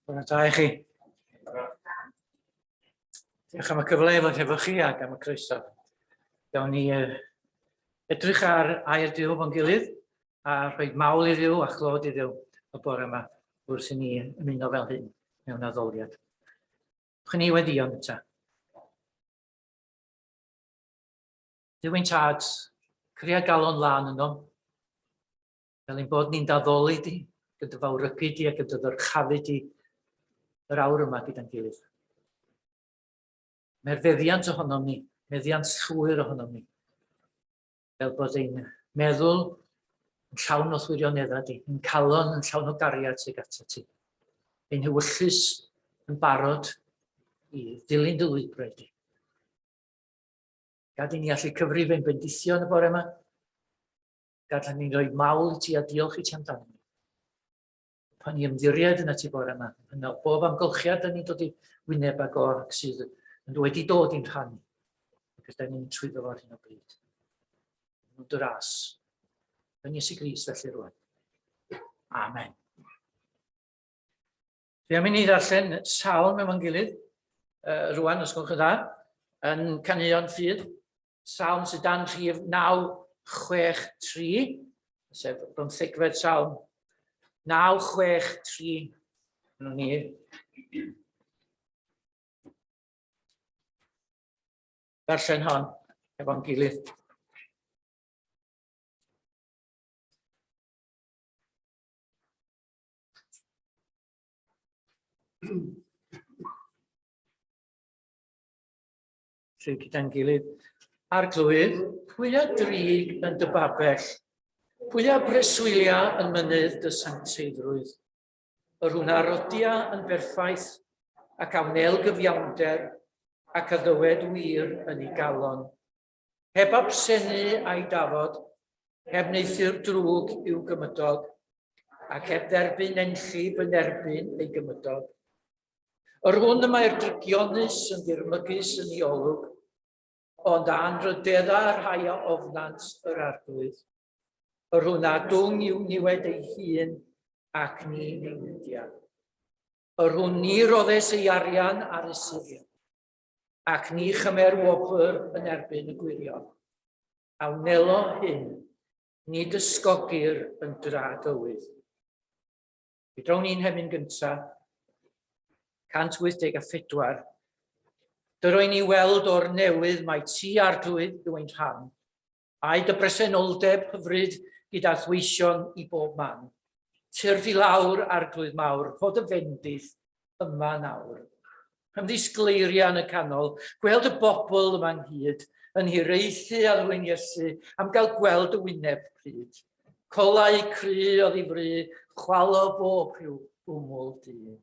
Bore da i chi. Diolch am y cyfle i fod hefo chi ac am y croeso. Gawn ni uh, edrych ar air Dyw fo'n gilydd a rhoi mawl i Ddyw a chlod i Ddyw y bore yma wrth i ni ymuno fel hyn mewn addoliad. Chwn i weddion eto. Duwyn tad, cria galon lan ynom, fel ein bod ni'n daddoli di, gyda dy fawrygu di a gyda dy ddyrchafu di yr awr yma gyda'n gilydd. Mae'r feddiant ohonom ni, meddiant llwyr ohonom ni, fel bod ein meddwl yn llawn o thwirioneddau di, yn calon yn llawn o gariad sy'n gata ti. Ein hywyllus yn barod i ddilyn dy lwybrau di. Gad i ni allu cyfrif ein bendithion y bore yma. Gad ni'n rhoi mawl i ti a diolch i ti amdano pan i ymddiried yn y tu bore yma, yn ôl bob amgylchiad dyn ni'n dod i wyneb ag o'r ac sydd yn wedi dod i'n rhan, ac ydyn ni'n trwy ddo ar hyn o bryd. Yn dy ras, yn Iesu Gris felly rwan. Amen. Fe am i ni ddarllen salm efo'n gilydd uh, rwan, os gwelwch yn dda, yn canuo'n ffydd, salm sydd dan rhif 963, sef bymthegfed salm 963, yno ni. Darllen hon efo'n gilydd. Rhyw gyda'n gilydd. Arglwydd, pwy a drig yn dy babell? Pwy a breswylia yn mynydd dy sancteiddrwydd? Yr hwn arodia yn berffaith ac a wnel gyfiawnder ac a ddywed wir yn ei galon. Heb absenu a'i dafod, heb neithiwr drwg i'w gymydog, ac heb dderbyn nenllib yn erbyn ei gymydog. Yr hwn y mae'r drygionus yn ddirmygus yn ei olwg, ond a'n rydedda y rhai a ofnant yr arglwydd. Yr hwn a dwng i'w niwed ei hun ac ni newidiad. Yr hwn ni roddes ei arian ar y sirion. Ac ni chymer wobr yn erbyn y gwirion, a wnelo hyn, nid ysgogir yn dra dywydd. Fe drawn ni'n hemyn gyntaf, 184, Dyroen ni weld o'r newydd mae ti ar drwydd dwy'n rhan, Ai dy bresenoldeb hyfryd gyda thweision i bob man. Tyrd i lawr, Arglwydd mawr, rho dy fendith yma nawr. Ymddisgleiria yn y canol, gweld y bobl yma ynghyd, yn hiraethu a ddwyn Iesu am gael gweld y wyneb pryd. Colau cry o ddifri, chwalo bob rhyw wmwl dyn.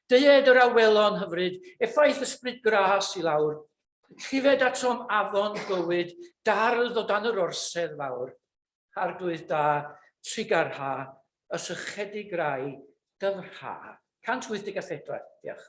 Deued yr awelon hyfryd, effaith ysbryd gras i lawr, llifed atom afon bywyd, dardd o dan yr orsedd fawr, arglwydd da, trigar ha, y sychedig rai, dyfrha. 184, diolch.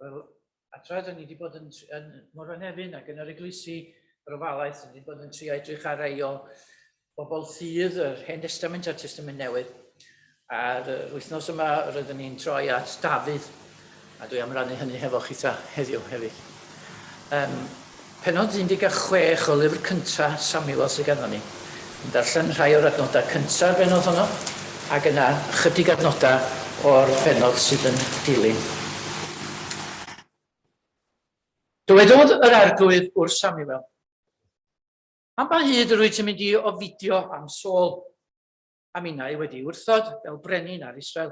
Wel, a tra dyn ni wedi bod yn, yn Morfa Nefyn ac yn yr eglwysi rofalaeth, dyn ni wedi bod yn tri edrych ar rei o bobl ffydd yr Hen Testament a'r Testament Newydd. A'r wythnos yma rydyn ni'n troi at Dafydd, a dwi am rannu hynny hefo chi ta heddiw hefyd. Um, Pennod 16 o lyfr cynta Samuel sy ganddo ni. Yn darllen rhai o'r adnodau cynta'r bennod honno, ac yna ychydig adnodau o'r bennod sydd yn dilyn. Dywedodd yr Arglwydd wrth Samuel, Am ba hyd rwyt ti'n mynd i ofidio am Saul, a minnau wedi'i wrthod fel brenin ar Israel?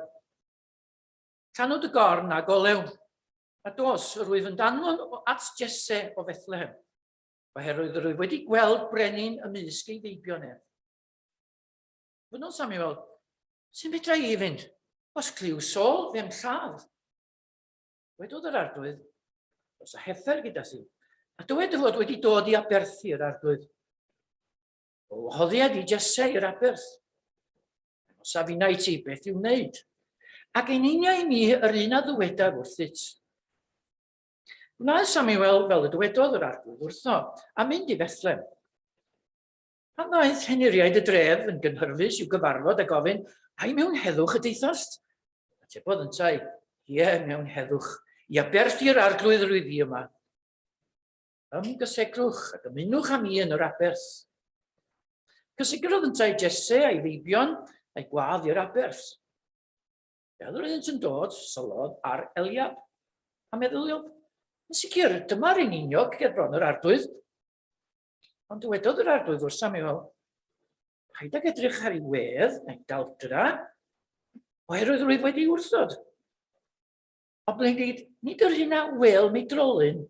Canu dy gorn ag olew, A dos, yr wyf yn danfon o at Jesse o Fethlehem, oherwydd yr wyf wedi gweld brenin ymysg ei feibion ef. Fynnodd Samuel, sy'n fedra i fynd, os clyw sol ddim lladd. Wedodd yr arglwydd, os a heffer gyda si, a dywed dy fod wedi dod i aberthu yr arglwydd. O hoddiad i Jesse i'r aberth. Os a finna i ti, beth i'w wneud? Ac yn unia i mi yr un a ddywedaf wrthyt. Gwnaeth Samuel fel y dywedodd yr arglwydd wrtho, a mynd i Bethlem. Pan ddaeth henuriaid y dref yn gynhyrfus i'w gyfarfod a gofyn, ai mewn heddwch y deithast? Atebodd yntau, ie, mewn heddwch, i aberthu yr arglwydd rwyf i yma. Ymgysegrwch ac ymunwch â mi yn yr aberth. Cysegrodd yntau Jesse a'i feibion a'i gwadd i'r aberth. Fel yr oeddynt yn dod, syllodd ar Eliab, a meddyliodd, yn sicr, dyma'r un uniog ger bron yr arglwydd. Ond dywedodd yr arglwydd wrth Samuel, paid ag edrych ar ei wedd na'i daldra, oherwydd rwyf wedi wrthod. Ond ble nid, nid yr hyn a wel mi drolyn,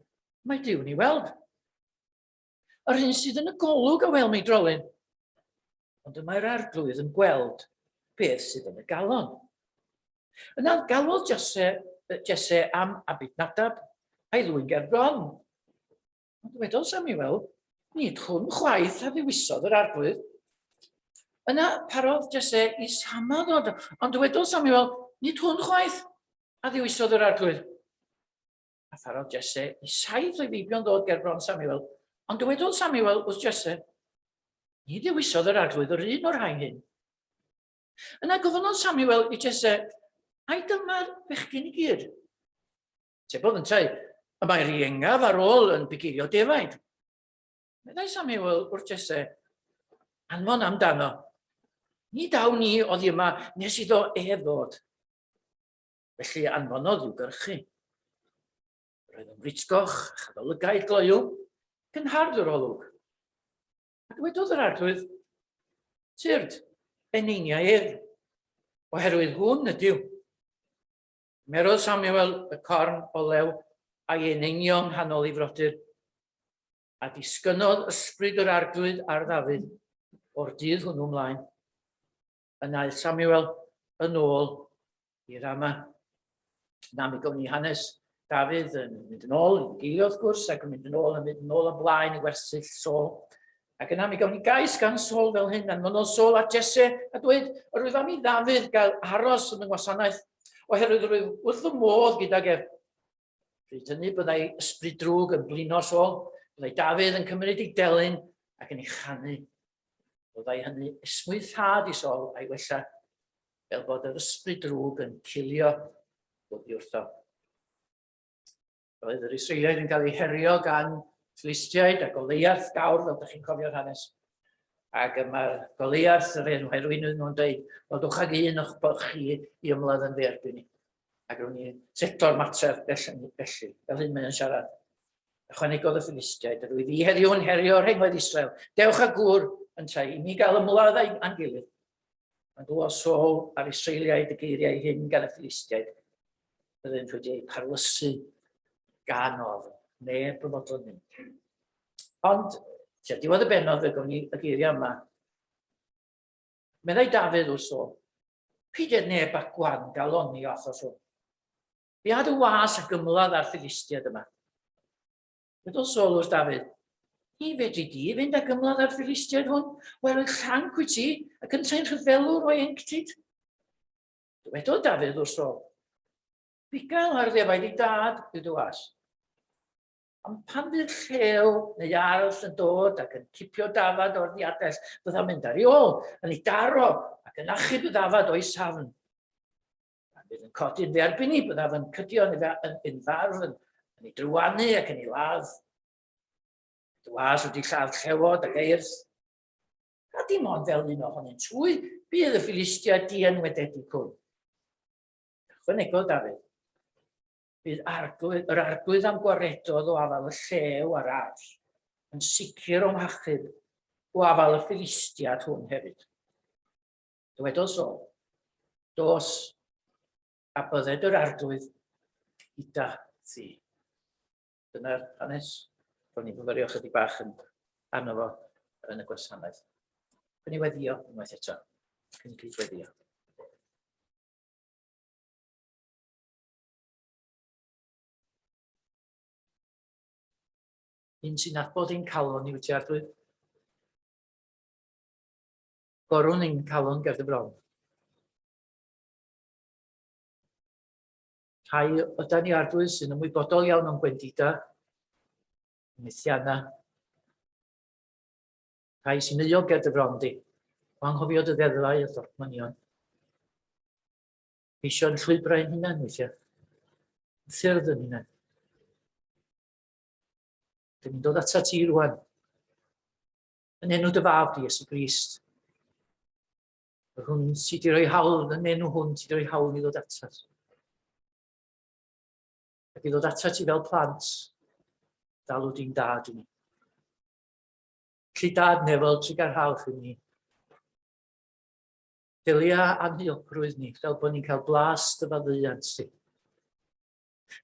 mae Dyw ni weld. Yr hyn sydd yn y golwg a wel mi drolyn. Ond y mae'r arglwydd yn gweld beth sydd yn y galon. Yna galwodd Jesse, Jesse am Abid Nadab a'i ddwy'n gerbron. Ond wedodd Samuel, nid hwn chwaith a ddiwisodd yr arglwydd. Yna parodd Jese i Sama ddod, ond dywedodd Samuel, nid hwn chwaith, a ddiwisodd yr arglwydd. A pharodd Jese i saith o'i feibion ddod ger bron Samuel, ond dywedodd Samuel wrth Jese, ni ddiwisodd yr arglwydd yr un o'r rhain hyn. Yna gofynodd Samuel i Jese, ai dyma'r bechgyn i gyd? Tebodd yntau, y mae'r iengaf ar ôl yn pigirio defaid. Meddai Samuel wrth Jesse, anfon amdano. Ni daw ni oddi yma nes iddo e ddod. Felly anfonodd i'w gyrchu. Roedd yn fritgoch, chadolygaid gloyw, cynhardd yr olwg. A dwedodd yr arglwydd, tyrd, eneiniau ef, oherwydd hwn ydyw. Cymerodd Samuel y corn olew a'i eneinio yng nghanol ei frodyr, a disgynnodd ysbryd yr Arglwydd ar Ddafydd o'r dydd hwnnw mlaen. Yn aeth Samuel yn ôl i Rama. Na mi gown ni hanes Dafydd yn mynd yn ôl, yn geilio wrth gwrs, ac yn mynd yn ôl, yn mynd yn ôl ymlaen i wersyll Saul. Ac yna mi gawn ni gais gan Saul fel hyn, anfonodd Saul at Jesse a dweud, yr wyf am i Ddafydd gael aros yn y ngwasanaeth, oherwydd yr wyf wrth fy modd gydag ef. Pryd hynny byddai ysbryd drwg yn blino Saul, byddai Dafydd yn cymryd ei delyn ac yn ei chanu. Byddai hynny esmwythad i Saul a'i wella, fel bod yr ysbryd drwg yn cilio bod i wrtho. Roedd yr Israeliaid yn cael eu herio gan Ffilistiaid a Goliath gawr, fel ydych chi'n cofio'r hanes. Ac yma Goliath, yr enw herwyn yn nhw'n dweud, wel dwch ag un o'ch bod chi i ymladd yn fe erbyn ni. Ac rown ni seto'r mater felly, felly, fel hyn mae'n siarad. Ychwanegodd y Ffilistiaid, yr wyf i heddiw'n herio rhengoedd Israel. Dewch a gŵr yn tai, i mi gael ymladd a'n gilydd. Mae'n glywed Saul a'r Israeliaid y geiriau hyn gan y Ffilistiaid, Byddent wedi eu parlysu gan ofn, neb yn fodlon mynd. Ond, tua diwedd y benodd y gwn i y geiriau yma. Meddai Dafydd wrth o, peidiad neb ac gwan galoni o achos hwn. Fi ad y was ac ymladd ar Philistiad yma. Byddol sol wrth Dafydd, ni fedri di fynd ac ymladd ar Philistiad hwn, wel yn chanc wyt ti, ac yn traen rhyfelwr o enctid. Dywedodd Dafydd wrtho, Bugail ar ddefaid i dad, bydd o as. Ond pan fydd llew neu arall yn dod ac yn cipio dafad o'r ddiadell, bydda mynd ar ei ôl, yn ei daro ac yn achub y ddafad o'i safn. Pan fydd yn codi'n fe erbyn i, byddaf yn cydio yn ei farf, yn, yn ei drywanu ac yn ei ladd. Dwas wedi lladd llewod ac eirth. a dim ond fel un ohonynt hwy bydd y Philistia dienwededig hwn. Ychwanegodd Dafydd, bydd arglwydd, yr arglwydd am gwaredodd o afal y llew a'r arll, yn sicr o'm hachub o afal y Philistiad hwn hefyd. Dywedodd so, dos a bydded yr arglwydd gyda thi. Dyna'r hanes. Ro'n i'n myfyrio chydig bach yn arno fo yn y gwasanaeth. Cyn i weddio unwaith eto. Cyn i gyd weddio. Un sy'n nabod ein calon i wyt ardwydd. Gorwn ein calon gerdd y bron. rhai yda ni arglwydd sy'n ymwybodol iawn o'n gwendida, methianna, rhai sy'n euog ger dy fron di, o anghofio dy ddeddfau a dorchmynion. Eisio'n llwybrau yn hynna'n weithiau, ffyrdd yn hynna'n. Dyn ni'n dod atat ti rwan, yn enw dy fab di, Iesu Grist, Yr hwn sydd wedi rhoi hawl, yn enw hwn sydd wedi rhoi hawl i ddod atat. Ac i ddod atat i fel plant, dalw di'n dad i ni. Lly dad nefel trugarhaoch i ni. Delia anhyogrwydd ni fel bod ni'n cael blas dy faddeuant ti.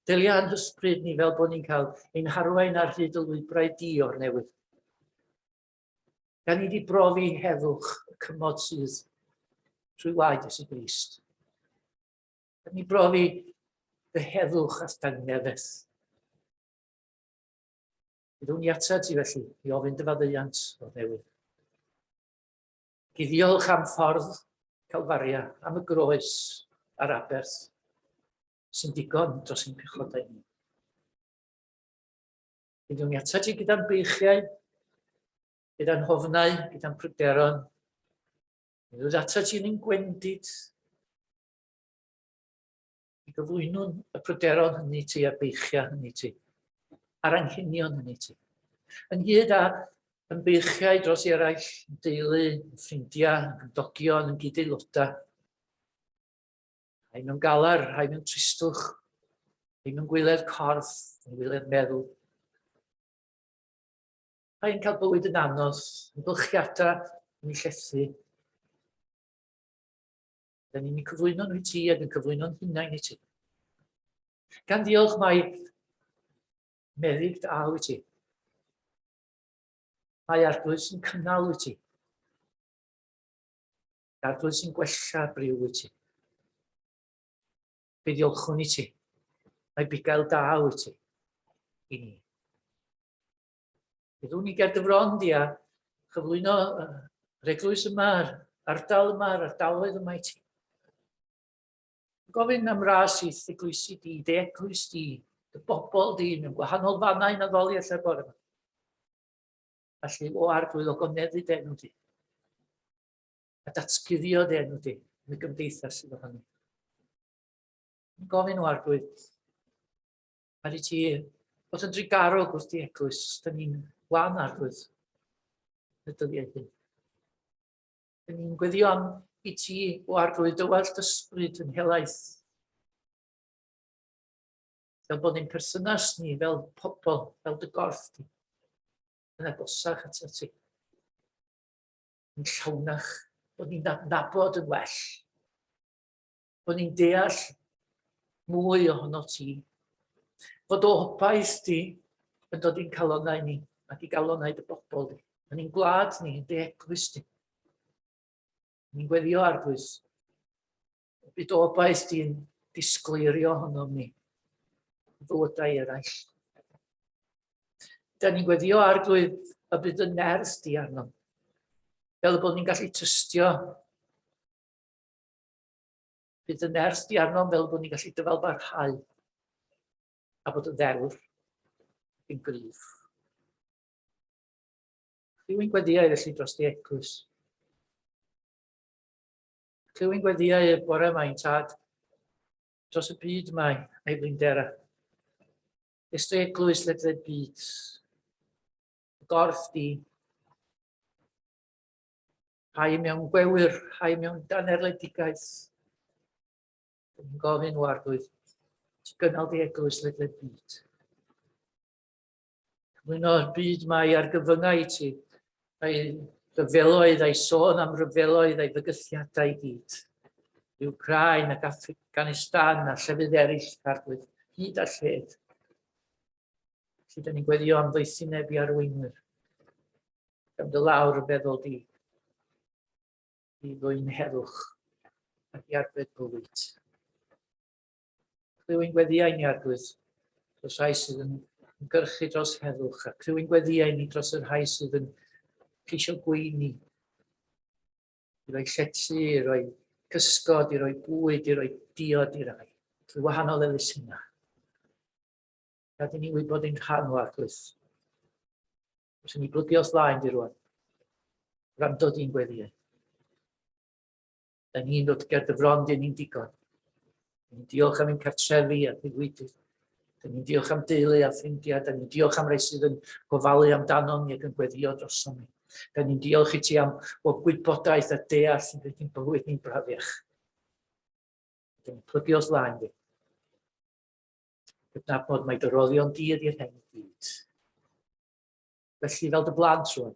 Delia anhysbryd ni fel bod ni'n cael ein harwain ar hyd y lwybrau di o'r newydd. Da ni wedi brofi heddwch y cymod sydd trwy waed Iesu Grist. Da ni brofi dy heddwch at dangnefus. Byddwn ni atat ti felly i ofyn dy faddeuant o'r newydd. Gyddiolch am ffordd Calfaria, am y groes a'r aberth sy'n digon dros ein pechodau ni. Byddwn ni atat ti gyda'n beichiau, gyda'n hofnau, gyda'n pryderon. Byddwn ni atat ti yn ein gwendid, i gyflwynwn y pryderon hynny ti a'r beichiau hynny ti, a'r anghenion hynny ti. Ynghyd â yn beichiau dros i eraill, yn deulu, yn ffrindiau, yn gymdogion, yn gyd-aelodau. Rhai mewn galar, rhai mewn tristwch, rhai mewn gwyledd corff, yn gwyledd meddwl. Rhai'n cael bywyd yn anodd, yn bylchiadau, yn ei llethu. Dyna ni'n cyflwyno nhw i ti ac yn cyflwyno'n hunain i ti. Gan ddiolch mae meddyg da wyt ti. Mae arglwys yn cynnal wyt ti. Dadl sy'n gwella briw i ti. Fe ddiolchwn i ti. Mae bugail da i ti. I ni. Byddwn ni ger dy fron di a chyflwyno yr eglwys yma, yr ardal yma, yr ardaloedd yma i ti. Gofyn am ras i eglwysi di, dy eglwys di, dy bobl di, mewn gwahanol fannau na ddoli allai bore yma. Felly, o arglwydd o goneddu denw di. a datguddio dy enw di yn y gymdeithas sydd ohono. Yn gofyn o arglwydd, mae rhaid ti bod yn drigarog wrth i eglwys, da ni'n wan arglwydd y dyddiau hyn. Da ni'n gweddio am i ti o arglwydd dywell dysbryd yn helaeth. Fel bod ni'n perthynas ni fel pobl, fel dy gorff di, yn agosach at ti. yn llawnach, bod ni'n adnabod yn well, bod ni'n deall mwy ohono ti, fod o hobaith di yn dod i'n calonau ni ac i galonau dy bobl di, yn ein gwlad ni, yn dy eglwys di. Ni'n gweddio arglwys, Y dy obaith di'n disgleirio honnom ni, fywydau eraill. Da ni'n gweddio arglwydd y bydd y nerth di arno. Fel y bod ni'n gallu tystio. Bydd y nerth di arno fel bod ni'n gallu dyfal barhau. A bod y ddewr yn gryf. Rwy'n gweddio i felly dros di eglwys. Clywyn gweddiau y bore mae'n tad, dros y byd mae ei blindera. Estoi eglwys ledled byd, gorff di. Rhai mewn gwewyr, rhai mewn danerledigaeth. Yn gofyn o arglwydd, ti gynnal di eglwys ledled byd. Cyflwyno byd mae ar gyfyngau i ti, a'i rhyfeloedd, a'i sôn am rhyfeloedd, a'i fygythiadau i gyd. I Ukraine ac Afghanistan a llefydd eraill, arglwydd, hyd a lled. Felly, da ni'n gweddio am ddoethineb i arweinwyr. Gam dy lawr y feddwl di. I ddwy'n herwch ac i arbed bywyd. Clywyn gweddiau ni arglwydd dros rhai sydd yn gyrchu dros heddwch, a clywyn gweddiau ni dros y rhai sydd yn ceisio gweini, i roi llety, i roi cysgod, i roi bwyd, i roi diod i rai, trwy wahanol elusennau. Gad i ni wybod ein rhan o arglwydd. Os ni blygu os laen di rwan, rhan dod i'n gweddiau. Da ni'n dod ger dy fron, dyn ni'n digon. Da ni'n diolch am ein cartrefi a diwydydd. Da ni'n diolch am deulu a ffrindiau. Da ni'n diolch am rai sydd yn gofalu amdano ni ac yn gweddio drosom ni. Da ni'n diolch i ti am bod gwybodaeth a deall sy'n gwneud i'n bywyd ni'n brafiach. Da ni'n plygu os laen fi. Gydnabod mae dy roddion di ydy'r hyn i gyd. Felly fel dy blant rwan,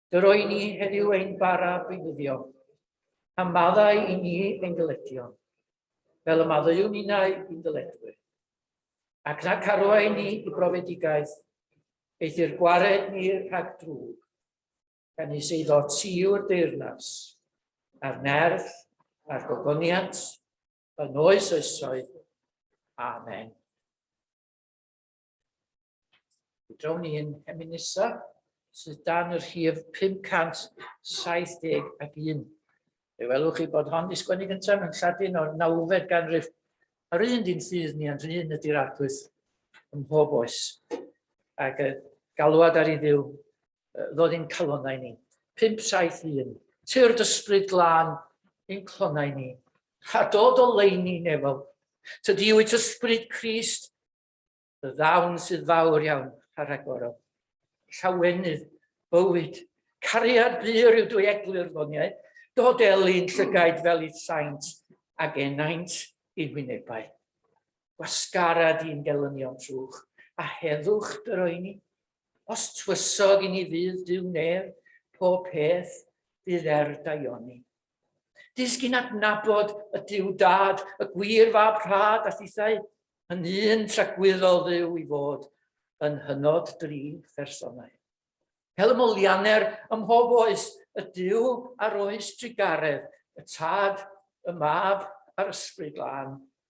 Yr o'i ni heddiw ein bara beinyddio, a maddau i ni ein dyledio, fel y maddeuwn ninnau i'n dyledwyr. Ac na carwai ni i brofedigaeth, eithyr gwared ni rhag drwg, gan is eiddo ti o'r deyrnas, a'r nerth, a'r gogoniant, yn oes oesoedd. Amen. Drawn ni yn hemin nesaf sydd dan y rhif 571. Fe welwch chi bod hon di sgwennu gyntaf yn Lladin o'r nawfed ganrif. Yr un di'n ffydd ni a'n rhyn ydy'r arglwydd ym mhob oes. Ac y galwad ar ei ddiw ddod i'n calonau ni. 571. Tyrd ysbryd glân i'n clonau ni. A dod o leini nefol. Tydi wyt ysbryd Crist y ddawn sydd fawr iawn a rhagor o llawenydd, bywyd, cariad bur yw dwy eglur foniau, dod elin llygaid fel i'th saint, ag enaint i wynebau. Gwasgarad i'n gelynion trwch, a heddwch dyroeni, os twysog i ni fydd dyw neb, pob peth fydd er daioni. Disgyn adnabod y Duw Dad, y gwir fab rhad a thithau, yn un tragwyddol dduw i fod yn hynod dri phersonau. Hel molianer ym mhob oes, y Duw ar oes drugaredd, y Tad, y Mab a'r Ysbryd Lân,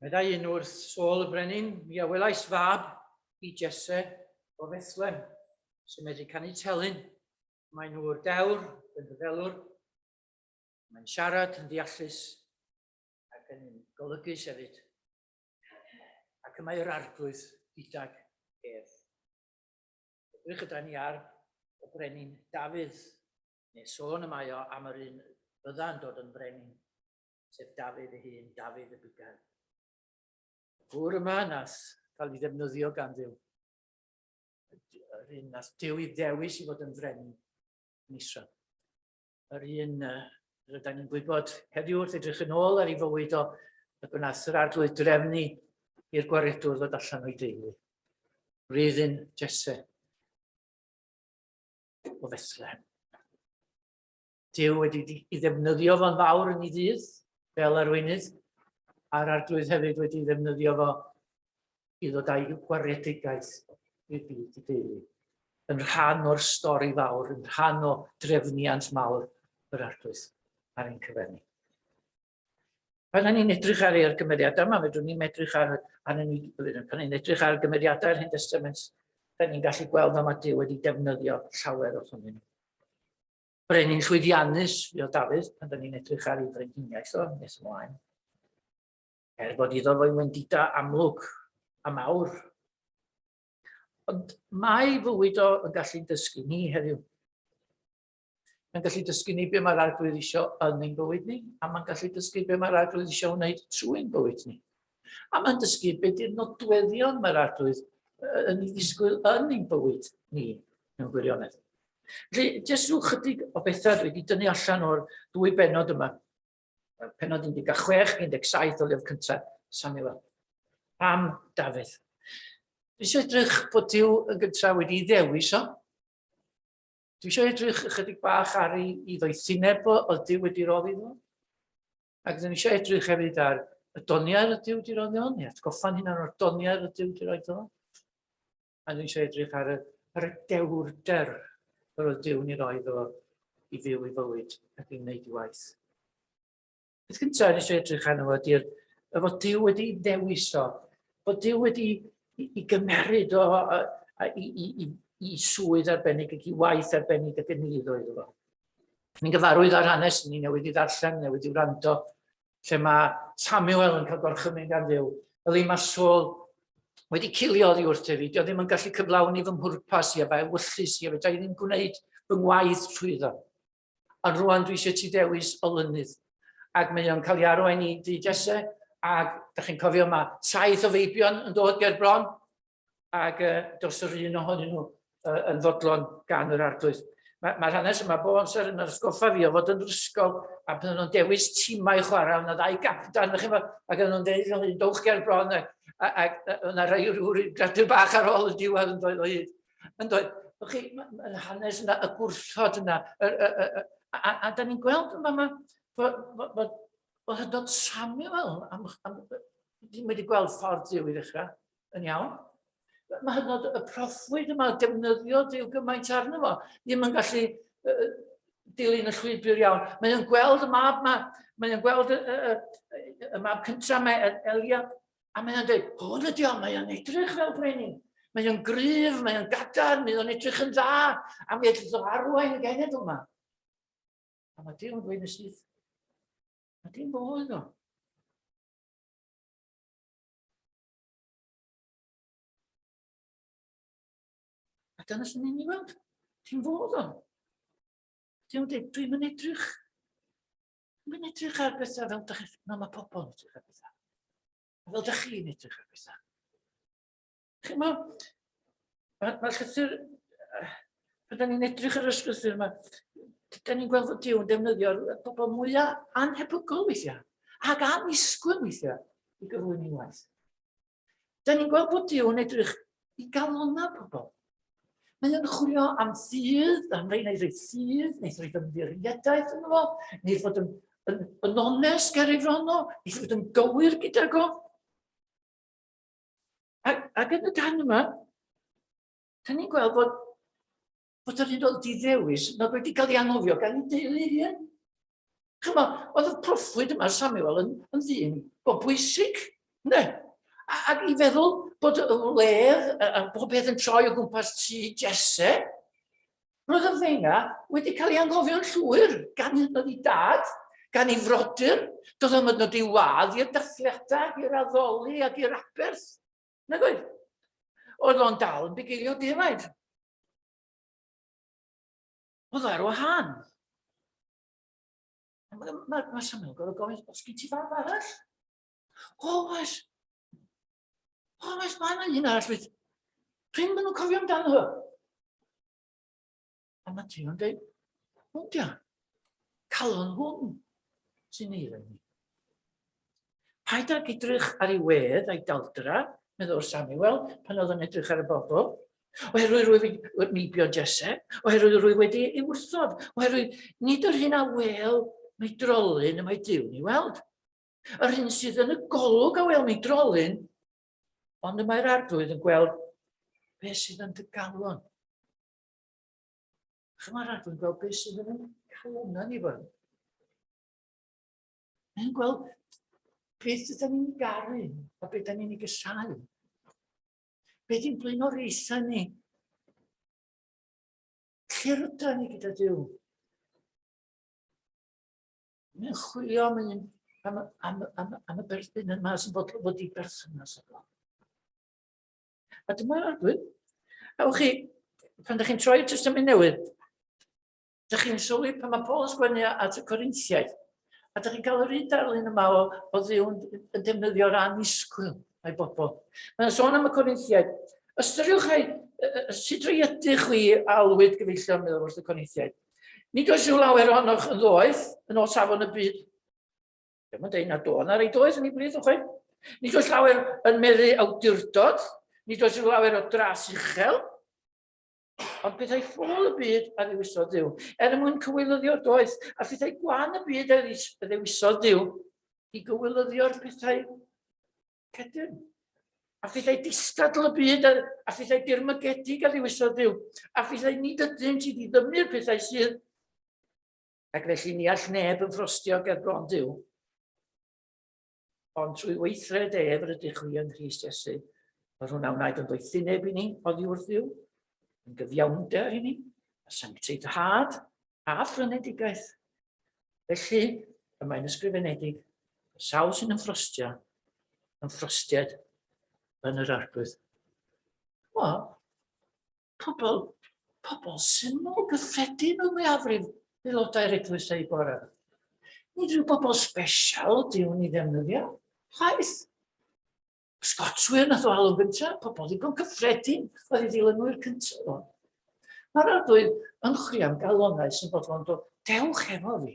Meddai un wrth Saul y Brenin, mi a welais fab i Jesse o Fethlem, sy'n medru canu telyn. Mae'n ŵr dewr, yn rhyfelwr, mae'n siarad yn ddeallus ac yn golygus hefyd. Ac y mae'r arglwydd gydag ef. Edrych yda ni ar y brenin Dafydd neu sôn y mae o am yr un fydda yn dod yn frenin, sef Dafydd ei hun, Dafydd y Bugail. Y gŵr yma nath cael ei ddefnyddio gan ddiw, yr un nath diw i ddewis i fod yn frenin yn Israel. Yr un rydyn ni'n gwybod heddiw wrth edrych yn ôl ar ei fywyd o y gwnaeth yr arglwydd drefnu i'r gwaredwr ddod allan o'i deulu. Rydyn Jesse. o Fethlehem. Dyw wedi ei ddefnyddio fo'n fawr yn ei ddydd fel arweinydd, a'r arglwydd hefyd wedi ei ddefnyddio fo i ddod â'i gwaredigaeth i'r byd i deulu. Yn rhan o'r stori fawr, yn rhan o drefniant mawr yr arglwydd ar ein cyfer ni. Pan ni'n edrych ar ei gymeriadau yma, fedrwn ni'n edrych ar, ar yn, pan ni'n edrych ar gymeriadau yr Hen Testament, da ni'n gallu gweld fel mae Dyw wedi defnyddio llawer o hynny. Brenin llwyddiannus, fi o Dafydd, pan da ni'n edrych ar ei frenhiniaeth o, nes ymlaen. Er bod iddo fo'i wendida amlwg a mawr. Ond mae fywyd o yn gallu'n dysgu ni heddiw. Mae'n gallu dysgu ni be mae'r arglwydd eisiau yn ein bywyd ni, a mae'n gallu dysgu be mae'r arglwydd eisiau wneud trwy ein bywyd ni. A mae'n dysgu be di'r nodweddion mae'r arglwydd yn ei ddisgwyl yn ein bywyd ni mewn gwirionedd. Felly, jyst rhyw chydig o bethau dwi wedi dynnu allan o'r dwy benod yma. Penod 16, 17 o lyfr cyntaf Samuel. Pam Dafydd? Dwi'n eisiau edrych bod Dyw yn gyntaf wedi ddewis o. Dwi eisiau edrych ychydig bach ar ei, ei ddoethineb o, oedd Dyw wedi roddi fo. Ac dwi eisiau edrych hefyd ar y doniau oedd Dyw wedi roddi fo, neu atgoffa'n hynna o'r doniau oedd Dyw wedi roddi fo. A dwi eisiau edrych ar y, ar y dewrder yr oedd Dyw ni roi fo i fyw i fywyd ac i wneud i waith. Beth gyntaf nes i edrych arno fo ydy'r y fod Dyw wedi dewis o, bod Dyw wedi i, i gymeryd o a, a, i, i, i, i swydd arbennig ac i waith arbennig ac yn ni iddo iddo fo. Ni'n gyfarwydd ar hanes, ni newid i ddarllen, newid i wrando, lle mae Samuel yn cael gorchymyn gan ddew, fel ei mae Saul wedi cilio oddi wrth efi, dio ddim yn gallu cyflawni fy mhwrpas i a fe wyllus i a fe da i ddim gwneud fy ngwaith trwy iddo. Ond rwan dwi eisiau ti dewis olynydd. Ac mae o'n cael ei arwain i dŷ Jesse, ac da chi'n cofio mae saith o feibion yn dod ger bron, ac uh, dos yr un ohonyn nhw uh, yn fodlon gan yr arglwydd. Mae'r ma hanes yma bo amser yn ysgoffa fi o fod yn ysgol a pan nhw'n dewis tîmau chwarae, yna ddau gapdan, ddech chi'n ac yn nhw'n dweud o'n un dowch ger bron, ac yna rhai rhyw gradw bach ar ôl y diwedd yn dweud o hyd. Yn dweud, Ych chi, yn hanes yna, y gwrthod yna, y, y, y, y, a, a, a da ni'n gweld yma yma, bod, bod, bod, bod hyd yn Samuel, am, am, ddim wedi gweld ffordd Dyw i ddechrau, yn iawn. Mae hyd yn oed y proffwyd yma, defnyddio Dyw gymaint arno fo, ddim yn gallu uh, dilyn y llwybr iawn. Mae o'n gweld y mab yma, mae o'n gweld y, y, y, y mab cyntaf mae Elia, A mae o'n dweud, hwn ydi o, mae o'n edrych fel brenin. Mae o'n gryf, mae o'n gadarn, mae o'n edrych yn dda, a mi edrych o arwain y genedl yma. A mae Dyw yn dweud yn syth, a dim fo oedd o. A dyna sy'n mynd i weld, dim fo oedd o. Dyw yn dweud, dwi'n mynd edrych Mae'n edrych ar bethau fel dych chi, fel mae pobl yn edrych ar bethau. Fel dych chi'n edrych ar bethau. Chi'n mo, mae'r ma llythyr, pan da ni'n edrych ar y llythyr yma, da ni'n gweld fod Dyw yn defnyddio'r pobl mwyaf anhebygol weithiau, ac annisgwyl weithiau i gyflwyni waith. Da ni'n gweld bod Duw yn edrych i galonau pobl. Mae o'n chwilio am ffydd, am rei neu rei ffydd, neu rei ymddiriedau yn fo, neu fod yn, yn, yn onest ger ei fron o, neu fod yn gywir gyda go. Ac, ac yn y gan yma, da ni'n gweld bod bod yr un oedd di ddewis nad wedi cael ei anghofio gan ei deulu ei hun. Chyma, oedd y proffwyd yma Samuel yn, yn ddyn go bwysig, ne? Ac i feddwl bod y wledd a bob peth yn troi o gwmpas tu Jesse, roedd y fenga wedi cael ei anghofio'n llwyr gan hyd nod i dad, gan ei frodyr, doedd am ydnod i wad i'r dathliadau, i'r addoli ac i'r aberth. Nag oedd? Oedd o'n dal yn bugeilio defaid. Oedd ar wahân. Mae ma, ma Samuel gorau gofyn, os gen ti fab arall? O, oes. O, oes, mae yna un arall fydd. Pryn maen nhw'n cofio amdano fo. A mae Tio'n dweud, hwn dia. Calon hwn sy'n eiledd ni. Paid ag edrych ar ei wedd a'i daldra, meddwl Samuel, pan oedd yn edrych ar y bobl. Oherwydd rwyf wedi meibio Jesse, oherwydd rwyf wedi ei wrthod, oherwydd nid yr hyn a wel mae drolyn y mae Dyw ni weld. Yr hyn sydd yn y golwg a wel mae drolyn, ond y mae'r arglwydd yn gweld beth sydd yn dy galon. Chymar adwn gweld beth sydd yn clona ni fan. Yn gweld beth ydyn ni'n garu a beth ydyn ni'n ei gysau. Beth yw'n blin o'r eithau ni. Lle rydyn ni gyda Dyw? Mae'n chwilio am, un, am, am, am, am y berthyn yma sy'n bod wedi berthynas efo. A dyma adwyn. A wch chi, pan ydych chi'n troi y testament newydd, ydych chi'n sylwi pan mae Paul yn sgwennu at y Corinthiaid, a ydych chi'n cael yr un darlun yma o, o ddiw yn defnyddio'r anisgwyl a'i bobl. Mae'n sôn am y Corinthiaid. Ystyriwch ai, sut roi ydych chwi alwyd gyfeillion meddwl wrth y Corinthiaid. Nid oes yw lawer ohonoch yn ddoeth yn ôl safon y byd. Dyma dweud nad o na reit oes yn ei blith o chwe. Nid oes lawer yn meddu awdurdod, nid oes lawer o dras uchel, ond pethau ffôl y byd a ddewisodd ddiw, er mwyn cywilyddio doeth, a phethau gwan y byd a ddewisodd ddiw, i gywilyddio'r pethau cedyn. A phethau distadl y byd a, a phethau dirmygedig a ddewisodd ddiw, a phethau nid ydynt i ddiddymu'r pethau sydd Ac felly ni all neb yn ffrostio ger bron Duw, ond trwy weithred ef rydych chwi yng Nghyst Iesu, Mae hwnna wnaed yn doethineb i ni oddi wrth Dduw, yn gyfiawnder i ni, a sancteiddhad a ffrynedigaeth. Felly, y mae'n ysgrifenedig, y sawl sy'n ymffrostio, ymffrostiad yn yr arglwydd. Wel, pobl, pobl syml, gyffredin o mwyafrif aelodau'r eglwys eu bore. Nid rhyw bobl special ydy hwn i ddefnyddio, chwaith. Scotswyr nath o alw gyntaf, pobl ddigon cyffredin oedd i ddilynwyr cyntaf o'n. Mae'r arglwydd yn chwi am galonau sy'n bodlon dod, dewch efo fi.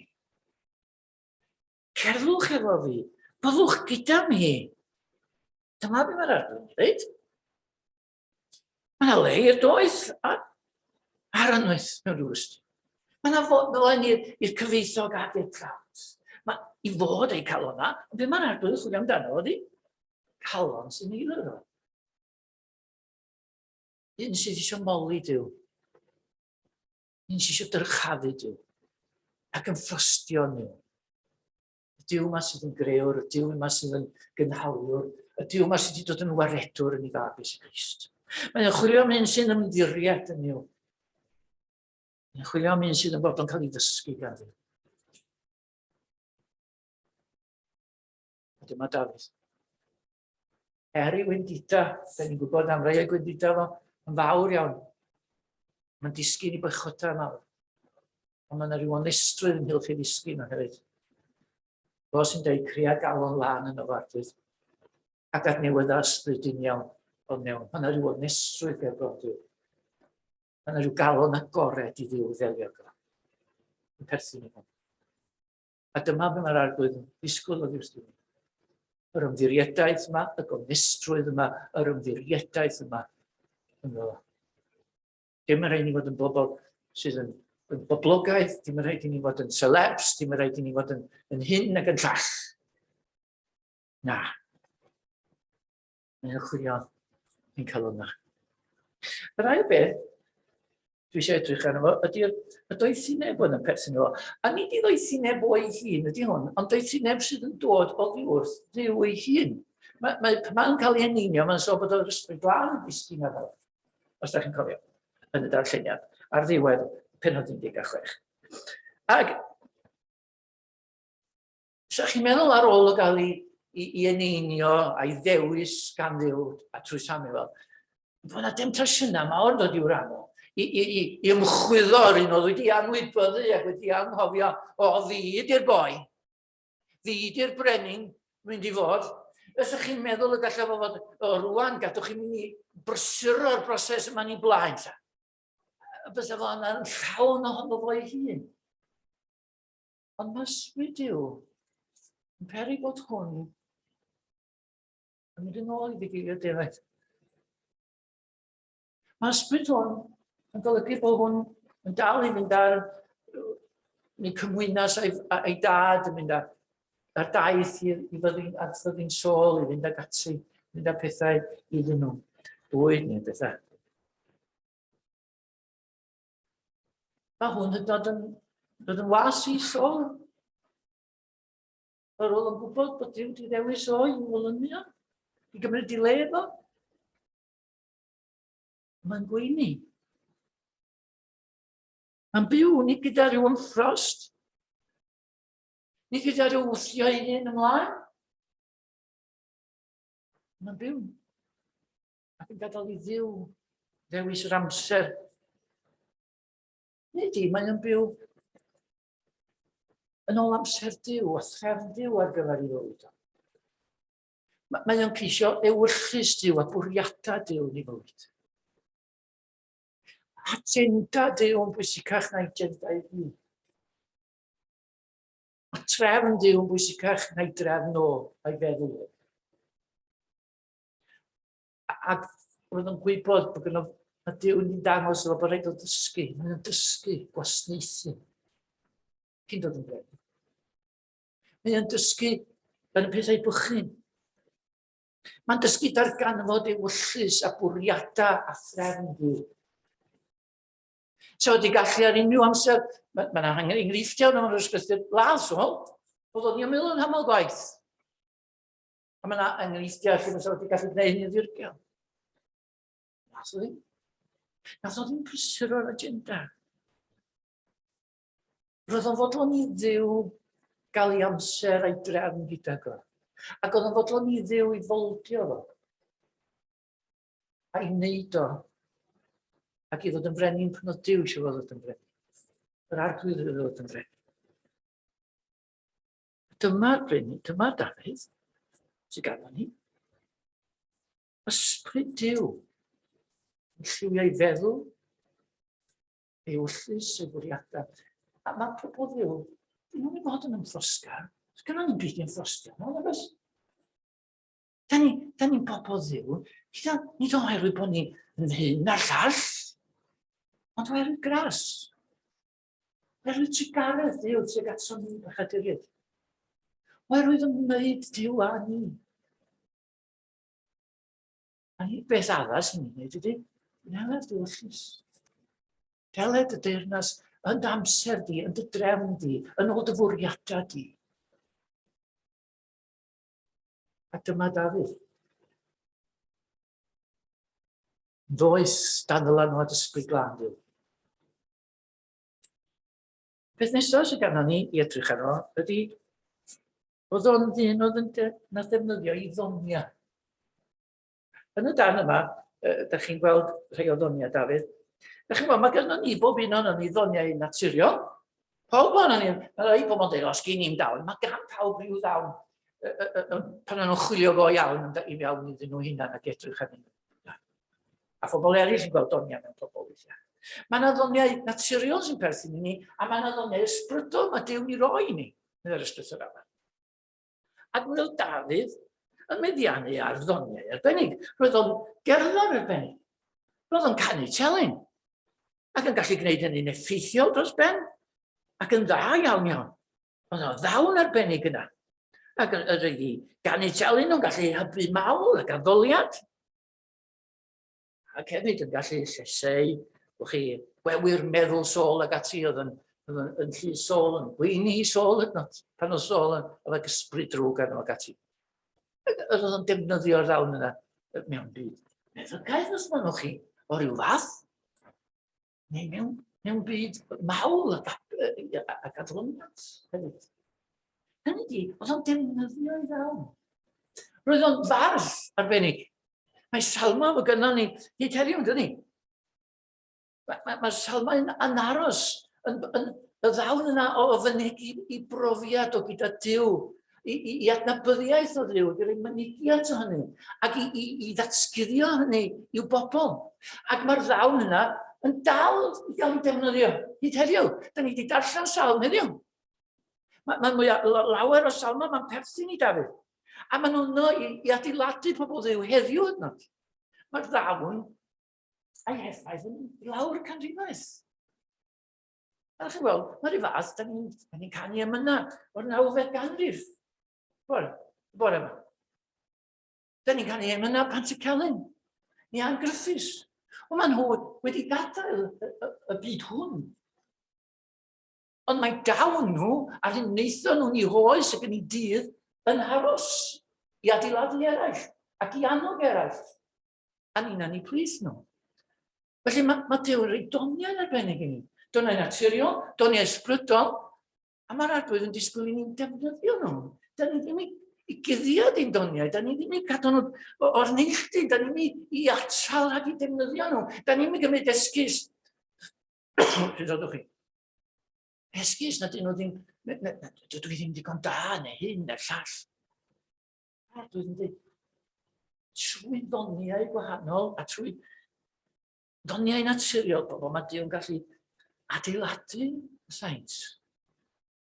Cerddwch efo fi, byddwch gyda mi. Dyma beth mae'r arglwydd yn dweud. Mae le i'r doeth a'r ar y noeth mewn rhyw ystyr. Mae yna ddolen i'r cyfeithog ac i'r prawns. Mae i fod eu calon dda, ond be mae'r arglwydd yn chwilio amdano ydy calon sy'n ei lyro. Un sydd eisiau moli Dyw. Un sydd eisiau dyrchafu Dyw. Ac yn ffrostio nhw. y Dyw yma sydd yn greor, y Dyw yma sydd yn gynhaliwr, y Dyw yma sydd wedi dod yn waredwr yn ei fab Iesu Grist. Mae'n chwilio am un sy'n ymddiried yn yw. Mae'n chwilio am un sydd yn bod yn cael ei ddysgu gan fi. A dyma Dafydd. Er i wendida, da ni'n gwybod am rei o'i gwendida fo, yn fawr iawn. Mae'n disgyn i bychodau mawr. Ond mae'n rhyw onestrwydd yn hylch ei ddisgyn o hefyd. Fo sy'n dweud crea galon lan yn y fardydd. Ac at newydda ysbryd yn iawn o mewn. Mae'n rhyw onestrwydd gael gordyw. Mae'n rhyw galon agored i ddiw ddelio gyda. Yn perthyn i hwn. A dyma be mae'r arglwydd yn disgwyl oddi wrth ni. Yr ymddirieddaeth yma, y gonestrwydd yma, yr ymddirieddaeth yma ynddo. Dim yn rhaid ni fod yn bobl sydd yn, yn boblogaeth, dim yn rhaid i ni fod yn celebs, dim yn rhaid i ni fod yn, yn hyn ac yn llall. Na. Neu y chwiodd yn cael hwnna. Yr ail beth, dwi eisiau edrych arno fo, ydy'r y doethineb yn y perthyn o. A nid i ddoethineb o'i hun ydy hwn, ond doethineb sydd yn dod o ddi wrth ddiw ei hun. Mae, mae, mae'n cael ei eneinio, mae'n sôn bod o'r ysbryd glân yn disgyn ar ôl, os da chi'n cofio, yn y darlleniad, ar ddiwedd penod 16. Ac Os ydych chi'n meddwl ar ôl o gael ei, ei, ei eneinio a'i ddewis gan ddew a trwy Samuel, bod yna demtasiynau mawr yn dod i'w ran o, i, i, i, i ymchwyddo ar un oedd wedi anwybyddu ac wedi anghofio, o, fi ydy'r boi, fi ydy'r brenin, mynd i fod. Os ydych chi'n meddwl y gallaf fod, o, rwan, gadwch chi mynd i brysur o'r broses yma ni blaen, ta. Bysa fo yna'n llawn ohono fo'i hun. Ond mae ysbryd Duw yn peri bod hwn yn mynd yn ôl i ddigilio defaid. Mae ysbryd hwn yn golygu bod hwn yn dal i fynd ar neu cymwynas a'i, a'i dad yn mynd ar, ar daith i, i fyddin, ar fyddin sol i fynd ag ati, mynd â pethau iddyn nhw, bwyd neu bethau. Mae hwn yn dod yn, dod yn was i sôl. Yr ôl yn gwybod bod Dyw wedi ddewis o i wylynio, i gymryd i le efo. Mae'n gweini. Mae'n byw ni gyda rhyw ymffrost, ni gyda rhyw wthio ei hun ymlaen. Mae'n byw. Ac yn gadael i ddiw ddewis yr amser. Neu di, mae yn byw yn ôl amser diw a threfn diw ar gyfer ei fywyd. Mae o'n ceisio ewyllus diw a bwriadau diw ni fywyd. Agenda diw yn bwysicach na agenda i ni. Mae trefn diw yn bwysicach na'i drefn o a'i feddwl o. A roedd yn gwybod bod gyda a Dyw yn dangos efo bod rhaid o dysgu. Mae'n dysgu gwasnaethu. Cyn dod yn brenin. Mae'n dysgu yn y pethau bychyn. Mae'n dysgu darganfod ei wyllus a bwriadau a threfn dwi. So, wedi gallu ar unrhyw amser, mae'n ma angen enghreifftiau o'n ysgrifft ladd, so, bod o'n i'n meddwl yn hamol gwaith. A mae yna enghreifftiau lle fysa wedi gallu gwneud hyn yn ddirgel. Nath o ddim. Nath o ddim prysur o'r agenda. Roedd o'n fodlon i ddiw gael ei amser a'i drefn gyda go. Ac oedd o'n fodlon i ddiw i foldio fo. A'i wneud o. Ac i ddod yn frenin pan oedd diw eisiau fod yn frenin. Yr arglwydd oedd yn frenin. Dyma Reni, dyma Dafydd, sy'n gada ni. Ysbryd Dyw, yn lliwio ei feddwl, ei wllus, ei fwriadau. A mae pobl Ddyw, dyn nhw'n ei fod yn ymffrosga. Gynna ni'n byd i'n ffrosga, no, na beth. Da ni, da ni'n bobl ddiw, gyda, nid oherwydd bod ni'n hyn na'r llall, ond oherwydd gras. Mae rhoi trugaredd Duw tuag ato ni, bechaduryd. Mae rhoi fy ngwneud Duw a ni. A ni beth arall sy'n gwneud ydy, neled Duw llys. Deled y deyrnas yn amser di, yn dy drefn di, yn ôl dy fwriadau di. A dyma Dafydd. Ddoes dan ddylanwad ysbryd glân Duw. Peth nesaf sydd ganddo ni i edrych arno ydy oedd o'n ddyn oedd yn na ddefnyddio i ddonia. Yn y dan yma, uh, da chi'n gweld rhai o ddonia, Dafydd. Da chi'n gweld, mae gynnu ni bob un o'n ni ddoniau naturiol. Pawb o'n ni, mae rhai pobl yn dweud, os gyn i'n dawn, mae gan pawb rhyw ddawn pan nhw'n chwilio go iawn yn iawn iddyn nhw hunan ac edrych arnyn nhw. A phobl eraill yn gweld doniau mewn pobl weithiau. Mae yna ddoniau naturiol sy'n perthyn i ni, a mae yna ddoniau ysbrydol mae Dew'n i roi ni, yn yr ystwyth yr afa. Ac mi oedd Dafydd yn meddiannu ar ddoniau arbennig. Roedd o'n gerddor arbennig. Roedd o'n canu telyn. Ac yn gallu gwneud hynny'n effeithiol dros ben. Ac yn dda iawn iawn. Oedd o'n ddawn arbennig yna. Ac yr ydi ganu telyn o'n gallu hybu mawl ac addoliad. Ac hefyd yn gallu lleseu, wch chi, gwewyr meddwl Saul ag ati oedd yn, yn, yn, yn llu Saul, yn gweini Saul hyd not, pan oedd Saul yn efo gysbryd drwg arno ag ati. Oedd yn defnyddio'r ddawn yna mewn byd. Meddygaeth os maen chi, o ryw fath. neu mewn, mewn byd mawl a, a, a gadloniant hefyd. Hynny di, oedd o'n defnyddio ei ddawn. Roedd o'n fardd arbennig. Mae salma fo gynnal ni hyd heddiw, dyn ni. Mae, mae, mae salma yn, yn aros, yn, yn, y ddawn yna o fynegu i brofiad o gyda Dyw i, i, i adnabyddiaeth o Dduw, i roi mynigiant o hynny, ac i, i, i ddatguddio hynny i'w bobl. Ac mae'r ddawn yna yn dal i gael ei defnyddio hyd heddiw. Da ni wedi darllen salm heddiw. Mae'n ma mwy lawer o salma, mae'n perthyn i Dafydd. A maen nhw'n no i, i adeiladu pobl ddew heddiw yno. Mae'r ddawn a'i heffaith yn lawr canrifoedd. A chi'n gweld, mae'r un fath, da ni'n ni canu am yna o'r nawfed ganrif. Wel, y bore yma. Da ni'n canu am yna pan ti celyn. Ni a'n gryffus. Ond maen nhw wedi gadael y, y, y byd hwn. Ond mae dawn nhw a'r hyn wnaethon nhw'n i hoes ac yn ei dydd yn haros i adeiladu eraill ac i annog eraill. A ni'n anni plis nhw. Felly mae, mae Duw yn rhoi doniau arbennig i ni. Doniau naturiol, doniau ysbrydol, a mae'r arglwydd yn disgwyl i ni'n defnyddio nhw. Da ni ddim i, i guddio di'n doniau, da ni ddim i cadw nhw o'r neilltu, da ni ddim i, i atal rhag i defnyddio nhw. Da ni ddim i gymryd esgus. Pryd oeddech chi? Esgus na dyn nhw ddim, dydw i ddim digon da neu hyn neu'r llall. A dwi wedi dweud, trwy ddoniau gwahanol a trwy ddoniau naturiol pobl, mae Dyw'n gallu adeiladu y saint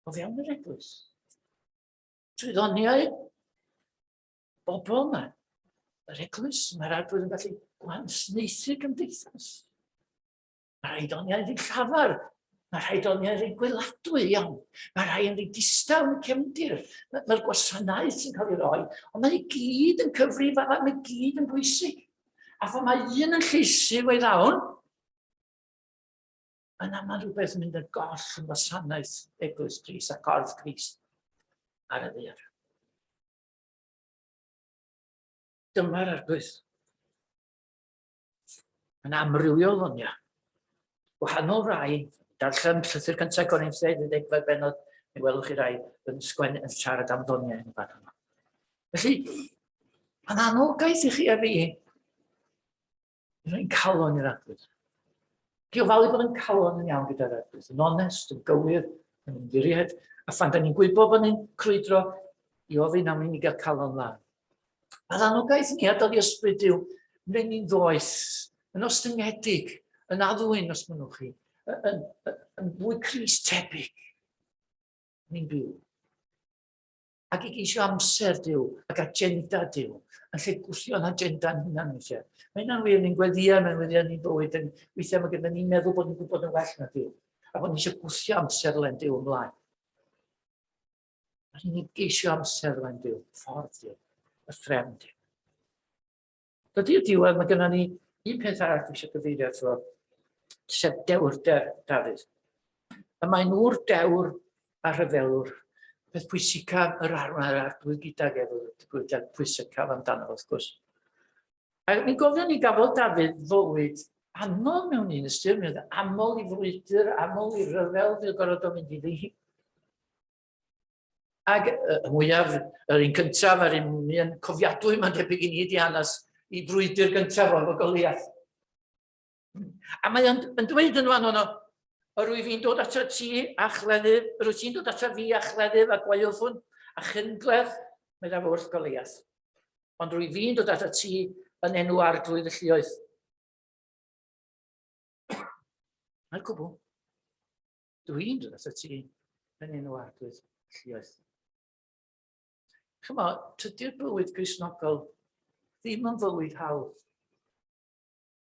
o fewn yr eglwys. Trwy ddoniau bobl yma, yr eglwys, mae'r arglwydd yn gallu gwahnsneithu gymdeithas. Mae rhai doniau'n rhy llafar. Mae rhai doniau'n rhy gweladwy iawn. Mae rhai yn rhy distaw yn y cefndir. Mae'r gwasanaeth sy'n cael ei roi. Ond mae i gyd yn cyfrif a mae gyd yn bwysig. A pha mae un yn lleisu ei ddawn, mae'n aml rhywbeth yn mynd ar goll yn wasanaeth eglwys Cris a corff Cris ar y ddeir. Dyma'r arglwydd. Mae'n amrywiol hwn, ia. Gwahanol rai, darllen llythyr cyntaf Corintheg, yn ddegfed benod, mi welwch chi rai yn sgwen yn siarad am ddoniau yn y fan yma. Felly, mae'n anogaeth i chi a fi. Rwy'n calon i'r adwyd. Dwi'n falu bod yn calon yn iawn gyda'r adwyd, yn onest, yn gywir, yn ymddiried, a phan da ni'n gwybod bod ni'n crwydro i ofyn am i ni gael calon lan, A'r anogaeth ni ar dal i ysbryd yw, ni'n ddoeth, yn ostyngedig, yn addwyn os mynnwch chi, yn, yn, yn fwy Cris tebyg. Ni'n byw. Ac i geisio amser Dyw ac agenda Dyw, yn lle gwthio'n agenda'n hunan weithiau. Mae hynna'n wir, ni'n gweddiau, mae'n weddiau ni'n bywyd, yn weithiau mae gyda ni'n meddwl bod ni'n gwybod yn well na Dyw, a bod ni eisiau gwthio amser len Dyw ymlaen. A rydyn ni'n geisio amser rwy'n byw, ffordd Duw, y ffrem Duw. Dydy'r diwedd, mae gennym ni un peth arall dwi eisiau gyfeirio ato, sef dewr de, Dafydd. Y mae'n ŵr dewr a rhyfelwr, peth pwysicaf yr arwnair a'r dwy gydag efo, dwi wedi pwysicaf amdano, wrth gwrs. A mi gofion ni gafodd Dafydd fywyd aml mewn un ystyr, mi oedd aml i frwydr, aml i ryfel, fi oedd gorfod o mynd i ddi. Ac y mwyaf, yr un cyntaf, yr un mi yn cofiadwy, mae'n debyg i ni ydi hanes i brwydr gyntaf o'n fy Goliath. A mae o'n yn dweud yn fan hwnnw, yr wyf i'n dod ato ti a chleddyf, yr wyt ti'n dod ato fi a chleddyf a gwaelfwn a chyngledd, meddaf wrth Goliath. Ond rwyf i'n dod ato ti yn enw arglwydd y llioedd. Mae'r cwbl. Dwi'n dod ato ti yn enw arglwydd y llioedd. Chymo, tydy'r bywyd grisnogol ddim yn fywyd hawdd.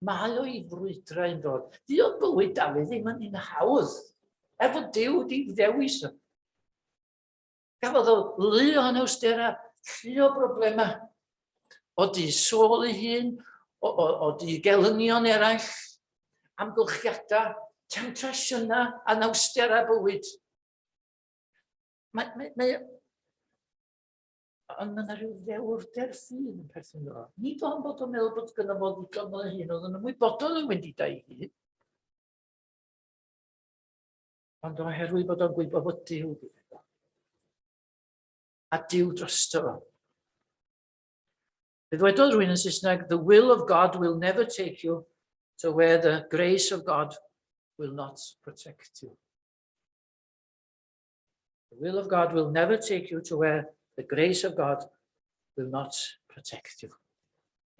Mae o i frwydrau yn dod. Di o bywyd Dafydd ddim yn un hawdd. Er fod Dyw di ddewis o. Gafodd o lu o anawstera, llu o broblemau. O di sôl ei hun, o, o, o di gelynion eraill, amgylchiadau, temtasiynau, anawstera bywyd. Mae, mae, mae, Ond mae yna rhyw ddewrder ffydd yn perthyn iddo fo. Nid ond bod o'n meddwl bod gyda fo ddigon o hyn, oedd yn ymwybodol yn wendidau i hyn. Ond oherwydd bod o'n gwybod bod Dyw gyda fo. A Dyw drosto fo. Fe ddwedodd rhywun yn Saesneg, the will of God will never take you to where the grace of God will not protect you. The will of God will never take you to where the grace of God will not protect you.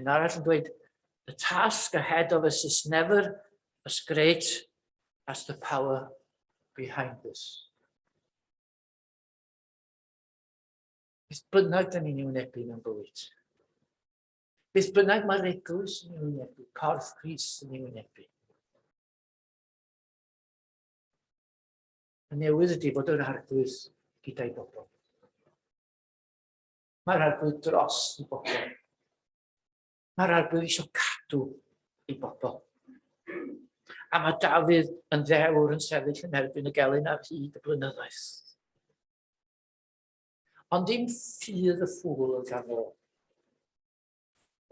Yn arall yn dweud, the task ahead of us is never as great as the power behind this. Beth bynnag da ni'n ei wynebu mewn bywyd. Beth bynnag mae'r eglwys yn ei wynebu, corff Cris yn ei wynebu. y newydd ydy fod yr arglwydd gyda'i bobl. Mae'r arglwydd dros i bobl. Mae'r arglwydd eisiau cadw i bobl. A mae Dafydd yn ddewr yn sefyll yn erbyn y gelyn ar hyd y blynyddoedd. Ond dim ffydd y ffwl yn gan ôl.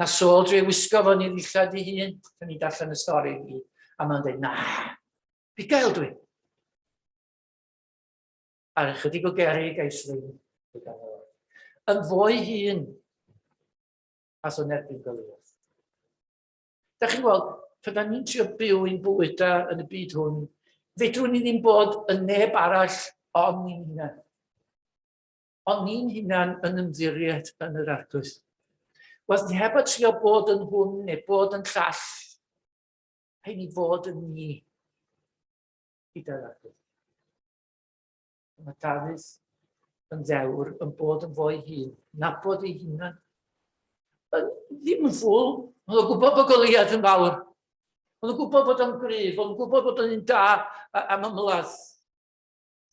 Na Saul dre wisgo fo'n i ddillad i hun, pan ni'n darllen y stori ni, a mae'n dweud, na, Pigael dwi. Ar ychydig o geri gais ddim gyda'r o'r. Yn fwy hun as o'n erbyn gwyliodd. Da chi'n gweld, pan da ni'n trio byw i'n bwyta yn y byd hwn, fedrwn ni ddim bod yn neb arall ond ni'n hunan. Ond ni'n hunan yn ymddiried yn yr arglwydd. Wel, heb y trio bod yn hwn neu bod yn llall, Rhaid i fod yn ni i dalafu. Mae Dafydd yn ddewr yn bod yn fo'i hun, nabod ei hunan. Ddim yn ffwl, ond o'n gwybod bod Goliad yn fawr. Ond o'n gwybod bod o'n gryf, ond o'n gwybod bod o'n un da am ymladd.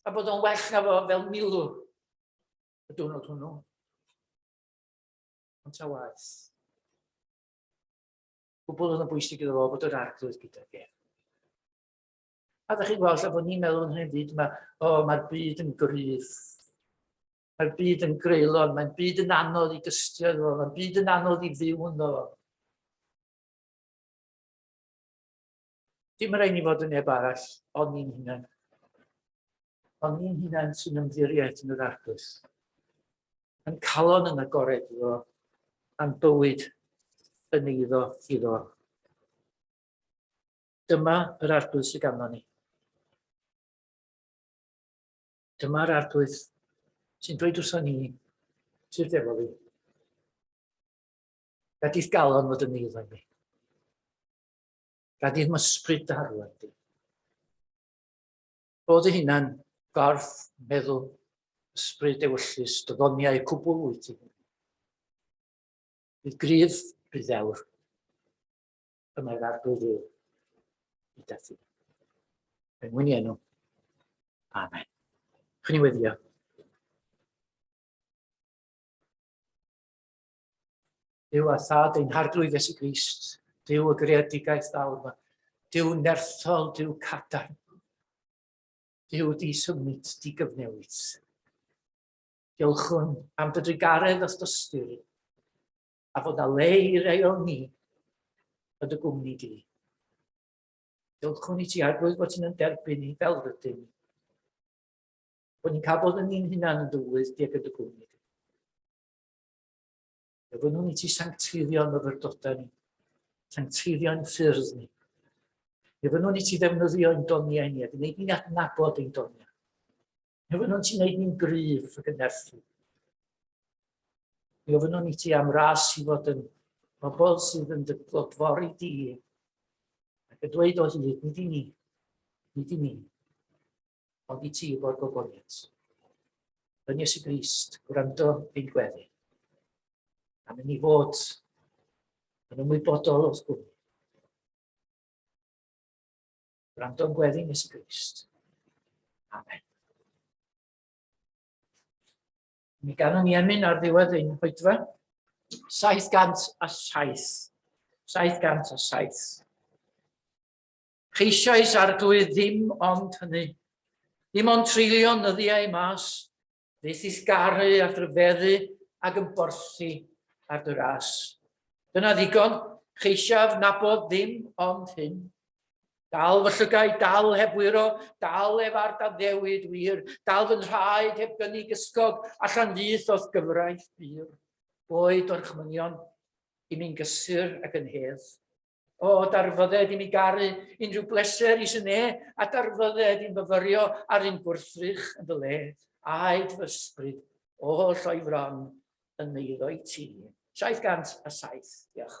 A bod o'n well na fo fel milw y diwrnod hwnnw. Ond ta waith. gwbl yn y bwysig iddo fo fod yr arglwydd gyda fe. A ddech chi'n gweld, lle bod ni'n meddwl yn hyn byd, mae, o, mae'r byd yn gryf. Mae'r byd yn greulon, mae'n byd yn anodd i dystio iddo fo, mae'n byd yn anodd i fyw ynddo fo. Dim yn rhaid ni fod yn neb arall, ond ni'n hunain. Ond ni'n hunain sy'n ymddiriaeth yn yr arglwys. Yn calon yn agored iddo, a'n bywyd yn eiddo iddo. Dyma yr arglwys sydd ganddo ni. Dyma'r arglwys sy'n dweud wrthon ni, sydd efo fi. Gadith galon fod yn eiddo i mi. Gad i'r mysbryd darw ar di. Bod y hunan gorff meddwl ysbryd ewyllus dyddoniau cwbl wyt i. Bydd gryf, bydd ddewr. Y mae'r arglwydd ddiw. I dathi. Yn mwyn i enw. Amen. Chyn i weddio. Dyw a thad ein harglwydd Iesu Grist, dyw y greadigaeth fawr yma, dyw nerthol, dyw cadarn, dyw di symud, di gyfnewid. Diolchwn am dy drigaredd os dystyr, a fod na le i rei o'n ni yn dy gwmni di. Diolchwn i ti arglwydd bod ti'n derbyn ni fel rydyn ni. Bod ni'n cael bod yn ni'n hunan yn dywydd di ag yn dy gwmni di. Gofynnwn i ti sancteiddio myfyrdodau ni, sancteiddio'n ffyrdd ni. Gofynnwn i ti ddefnyddio ein doniau ni a gwneud ni'n adnabod ein doniau. Gofynnwn ti wneud ni'n gryf ac yn nerthu. Gofynnwn i ti am ras i fod yn bobl sydd yn dy glodfori di ac yn dweud o hyd, nid i ni, nid i ni, Ond i ti fo'r gogoniant. Yn Iesu Grist, gwrando ein gweddi. A mynd i fod yn ymwybodol o'th gwmni. Gwrando'n gweddi nes y Grist. Amen. Mi ganwn ni emyn ar ddiwedd ein hoedfa. 707. 707. Ceisiais Arglwydd ddim ond hynny, dim ond treulio nyddiau mas, fythis garu a rhyfeddu ag yn borthi ar dy ras. Dyna ddigon, cheisiaf nabod ddim ond hyn. Dal fy llygau, dal heb wyro, dal ef ar daddewid wir, dal fy nhraed heb gynnig ysgog allan fyth o'th gyfraith bur, boed o'r chmynion i mi'n gysur ac yn hedd. O, darfodded i mi garu unrhyw bleser i sy'n e, a darfodded i'n fyfyrio ar un gwrthrych yn fy le, aed fy ysbryd o lloi fron yn eiddo i ti. 707, diolch.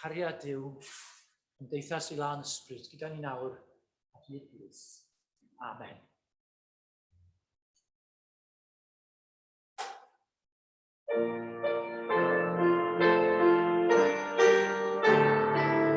chariad Duw, cymdeithas i lan ysbryd gyda ni nawr a hyd plith. Amen. Thank you.